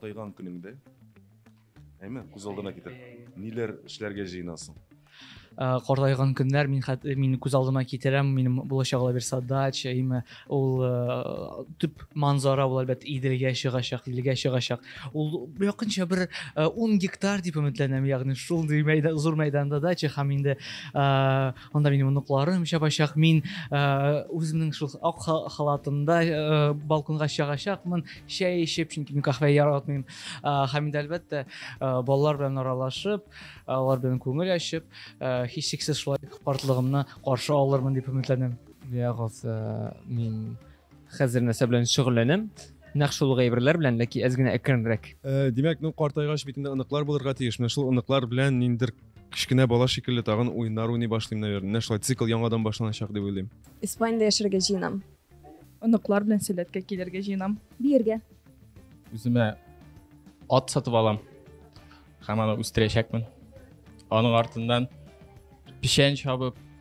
Картайган көнеңдә, әйме, күз алдына китер. Ниләр эшләргә җыенасың? Э, картайган көннәр мин хәт э, мин күз алдыма китерәм минем булачак лабирса дача имя ул э, төп манзара ул әлбәттә иделгә чыгачак илгә чыгачак ул якынча бер 10 гектар дип өметләнәм ягъни шундый мәйдан зур мәйданда дача һәм инде Анда минем оныкларым чабачак. Мин үземнең шул ак халатымда балконга чыгачакмын, чәй эчеп, чөнки мин кафе яратмыйм. Һәм инде әлбәттә, балалар белән аралашып, алар белән күңел ачып, һичшиксез шулай картлыгымны каршы алырмын дип өметләнәм. Ягыз, мин Хәзер нәрсә белән шөгыльләнәм? Нәкъ шул ук әйберләр белән, ләкин әз генә әкренрәк. Э, димәк, ну картайгач бит инде оныклар булырга тиеш. Менә шул оныклар белән ниндидер кечкенә бала шикелле тагын уеннар уйный башлыйм, наверное. Менә шулай цикл яңадан башланачак дип уйлыйм. Испаниядә яшәргә җыенам. Оныклар белән сәләткә килергә җыенам. Биергә. Үземә ат сатып алам. Һәм аны үстерәчәкмен. Аның артыннан печән чабып,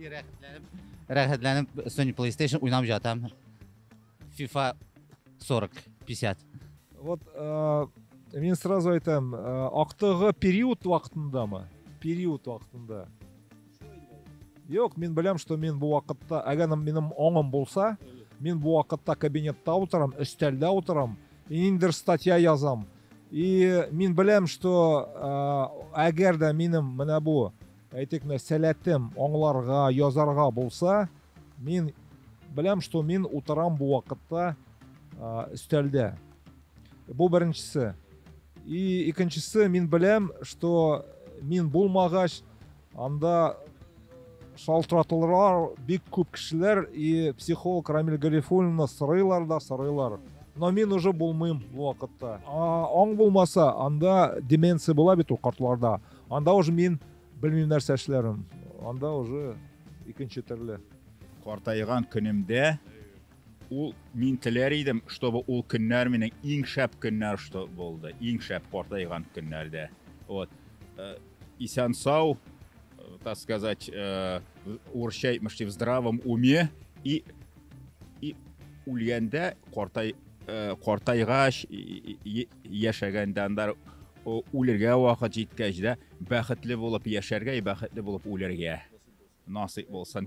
Рәхәтләнеп, рәхәтләнеп Sony PlayStation уйнап жатам. FIFA 40, 50. Вот э, мен сразу айтам, э, актыгы период вакытында ма? Период вакытында. Юк, мен беләм, что мен бу вакытта, әгәр минем оңым булса, мен бу вакытта кабинетта утырам, өстәлдә утырам, индер статья язам. И мен беләм, что э, әгәр дә минем менә бу Әйтик, менә сәләтем аңларга, язарга булса, мин беләм, что мин утырам бу вакытта өстәлдә. Бу беренчесе. И икенчесе, мин беләм, что мин булмагач, анда шалтыратулар бик күп кешеләр и психолог Рамиль Гарифуллинны сорыйлар да сорыйлар. Но мин уже булмыйм бу вакытта. Аң булмаса, анда деменция була бит ул картларда. Анда уже мин белмим нәрсә эшләрен. Анда уже икенче төрле. Картайган көнемдә ул мин теләр идем, чтобы ул көннәр минем иң шәп көннәр что булды, иң шәп картайган көннәрдә. Вот. Э, исән сау, э, так сказать, э, урысча әйтмешли, в здравом уме и и үлгәндә картай картайгач Яшәгәндә анда үлергә вакыт җиткәч дә бәхетле булып яшәргә и бәхетле булып үләргә насыйп булсын.